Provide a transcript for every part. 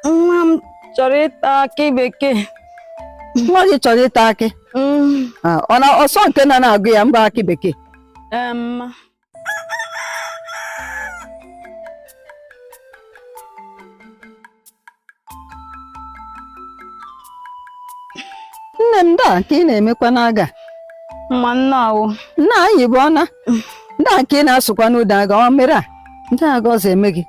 nwa m chọrọ ịta akị bekee nwa gị chọrọ ịta akị Mm, Ah, ọ na ọsọ nke na na-agụ ya mba akị bekee ee, mma nne m nda nke ị na-emekwa n'aga mma nna awụ nna anyị bụ ọna nda nke ị na-asụkwa n'ụda aga ọ mere a ndị agọzi eme gị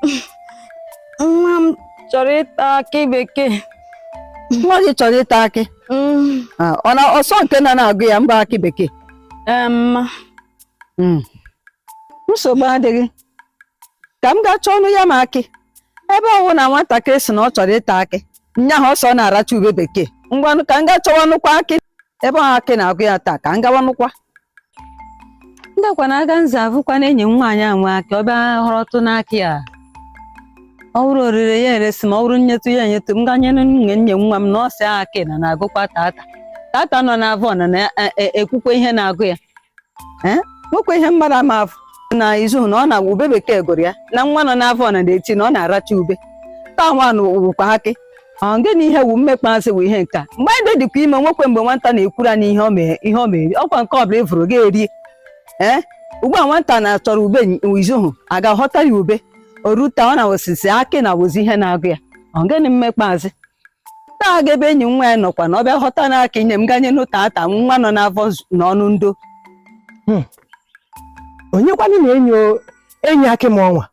nwa m chọrọ ịta akị bekee nwa gị chọrọ ịta akị Mm, Ah, ọ na ọsọ nke na na-agụ ya mba akị bekee ee, mma Mm. nsogbu adịghị ka m gaa chọọnụ ya ma akị ebe ọ wụ na nwatakịrị sị na ọ chọrọ ịta akị nyaahụ ọ sị ọ na-aracha ube bekee ngwanụ ka m gaa chọwanụkwa akị ebe ọ wụ akị na-agụ ya taa ka m gawanụkwa ndakwa na aga nza avụkwa na enyi nwaanyị a nwe akị ọ bịa ghọrọtụ n'akị a ọ wụrụ orire ya eresi m ọ wụrụ nyetụ ya enyetụ m gaa nye nwunye nwa m na ọ sị akị na na-agụkwa tata tata nọ n'avọ na na-ekwukwa ihe na-agụ ya ee nwekwa ihe mmadụ ama afụ n'izu na ọ na-agwa ube bekee gụrụ ya na nwa nọ n'avọ na na-eti na ọ na-aracha ube taa nwanụ wụkwa akị Ọ gịnị ihe wụ mmekpa asị wụ ihe nke a mgbe anyị dịkwa ime nwekwa mgbe nwata na-ekwuru anyị ihe ọ mee- ihe ọ mere ọ kwa nke ọbụla ị vụrụ gị erie ee ugbu a nwata na-achọrọ ube izu ahụ a gaa ghọta ya ube o ru taa ọ na ọ sị akị na-awụzi ihe na-agụ ya ọ gịnị mmekpa asị taa gaa ebe enyi nwaanyị a nọkwa na ọ bịa ghọta na akị nye m gaa nyenụ tata nwa nọ n'afọ z- n'ọnụ ndo onye kwanụ na-enyo enyi akị m ọnwa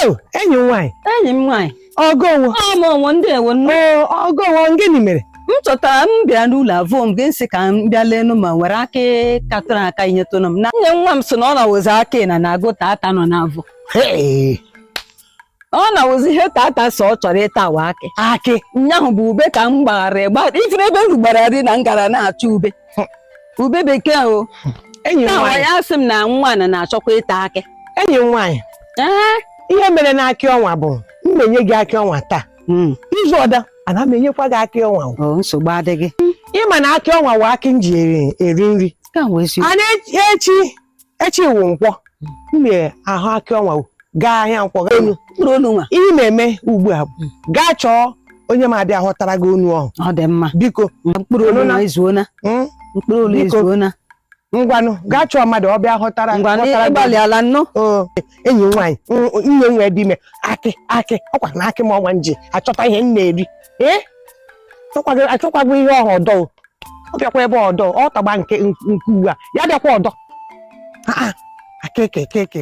Oh, enyi m nwaanyị enyi m nwaanyị ọ gị nwo ọ mụ nwo ndeewo nne oo ọ gị nwo gịnị mere m chọtara m bịa n'ụlọ avụọ m gị m sị ka m bịa lenụ ma nwere akị katụrụ aka i nyetụnụ m na nwunye nwa m sị na ọ na-awụzi akị na na-agụ tata nọ n'avọ Hey, ọ na-awụzi ihe tata sị ọ chọrọ ịta wụ akị akị ụnyaahụ bụ ube ka m gbaghara ịgba ifere ebe m rugbara ri na m gara na-achọ ube ube bekee o enyi m nwaanyị ya sị m na nwa na na-achọkwa ịta akị enyi m nwaanyị ihe mere na akị ọnwa bụ m ma enye gị akị ọnwa taa hmm. izu ọdọ ana m enyekwa gị akị ọnwa nsogbu adịghị ị ma na akị ọnwa wụ akị m ji eri nri ana echi echi wụ nkwọ m ma aghọ akị ọnwa gaa ahịa nkwọ gaa enu mkpụrụ onu nwa ihe ị ma eme ugbu a bụ gaa chọọ onye ma abịa ghọtara gị onu ọhụ ọ dị mma biko mkpụrụ onu Onụna. nwa ezuona mm, mkpụrụ onu Biko. ezuona ngwanụ gaa chọọ mmadụ ọ bịa ghọtara ngwa na ghọtara gị ị gbalịala nnọọ Oo, enyi m nwaanyị mm, nwunye nwa dị ime akị akị ọ kwa na akị m ọnwa m ji achọta ihe m na-eri ee achọkwaghị achọkwaghị ihe ọhụ ọdọ o. ọ bịakwa ebe ọdọ ọ tagba nke nke uwe a ya bịakwa ọdọ akeke keke